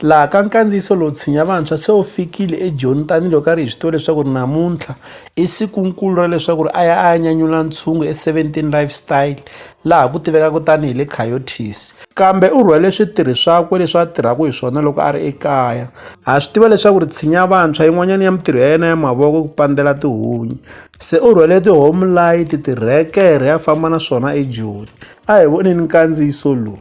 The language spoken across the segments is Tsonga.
Laha ka nkandziyiso lowu tshinya vantshwa se wu fikile eJoni tanihiloko a ri hi swi tiva leswaku ri namuntlha i sikunkulu ra leswaku ri a ya a ya nyanyula ntshungu e-17 Lifestyle laha ku tivekaka tanihi le Coyotes. Kambe u rhwele switirhi swakwe leswi a tirhaka hi swona loko a ri ekaya. Ha swi tiva leswaku ri tshinya vantshwa yin'wanyana ya mitirho ya yena ya mavoko ku pandzela tihunyi. Se u rhwele ti-home light, tirhekere a famba na swona eJoni. a hi voneni nkandziyiso lowu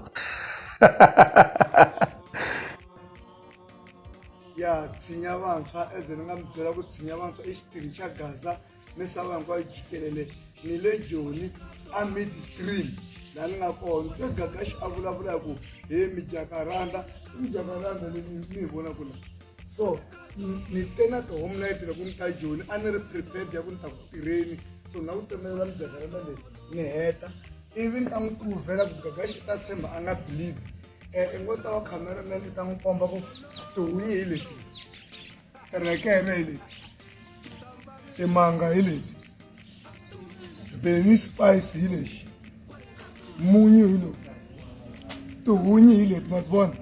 ya tshinya vantshwa eze ni nga mi byela ku tshinya vantshwa i xitirhi xa gaza misava hinkwayo jikelele ni le joni a midstream laha ni nga kona se gagaxi a vulavula hi ku he mijakaranda i mijakaranda leyi mi yi vonaka laha so ni te na ti-home night loko ni ta joni a ni ri prepared ya ku ni ta ku tirheni so na ku tsemelela mijakarema leyi ni heta ivi ni ta n'wi pruvhela ku gaga xi ta tshemba a nga believe um i ngo ta wa cameraman i ta n'wi komba ku tihunyi hi leti rekere hi leti timanga hi leti bele ni spice hi lexi munyu hi lowu tihunyi hi leti ma ti vona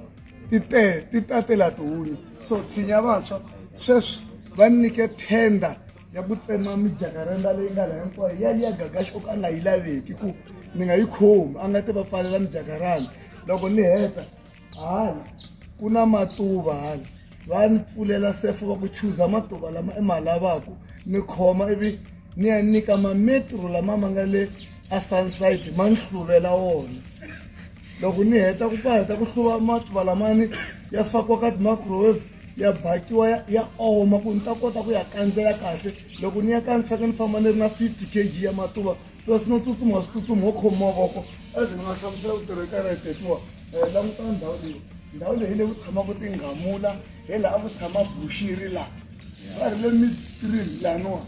ti te ti tatela tihunyi so tshinya vantshwa sweswi va nyike tenda ya ku tsema mijakarenda leyi nga la hinkwayo ya liya gagaxi o ka a nga yi laveki ku ni nga yi khomi a nga ti va pfalela mijakaranda loko ni heta hala ku na matuva hala va ni pfulela sefo va ku chuza matuva lama i ma lavaka ni khoma ivi ni ya nyika mametro lama ma nga le a sunside ma ni hluvela wona loko ni heta ku pa heta ku hluva matuva lamani ya fakiwa ka ti-microwave ya bakiwa ya oma ku ni ta kota ku ya kandzela kahle loko ni ya ka ni faneke ni famba ni ri na fifty k g ya matuva plus no tsutsuma switsutsumi ho khomi mavoko as ni nga hlamusela ku tirhekana hi tetiwa Eh, langutana ndhawu leyi ndhawu leyi leyi ku tshamaka tinghamula hi laha ku tshama bushiri laha va ri le mitrin laniwa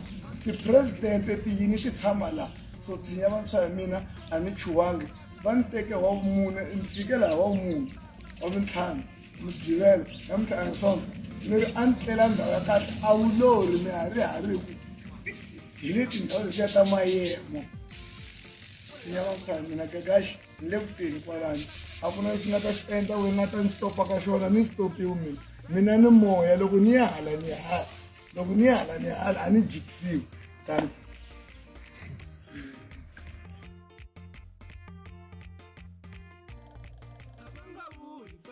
tipresidente tiyini ti tshama laha so tshinya vantshwa ya mina a ni chuwangi va ni teke wa vumune ni fike laha wa vumune wa mintlhanu mugqivelo ya mintlhanu sonke ni ri a ni tlela ndhawu ya kahle a wu lori ni ha ri ha ri ku hi le tindhawu letiya ta mayemo tshinya vantshwa ya mina gagaxi ni le ku teni kwalani a ku na lexi nga ta xi endla we nga ta ni stopa ka xona ni stopiwi mina mina ni moya loko ni ya hala ni hala loko ni ya hala ni hala a ni jikisiwi tani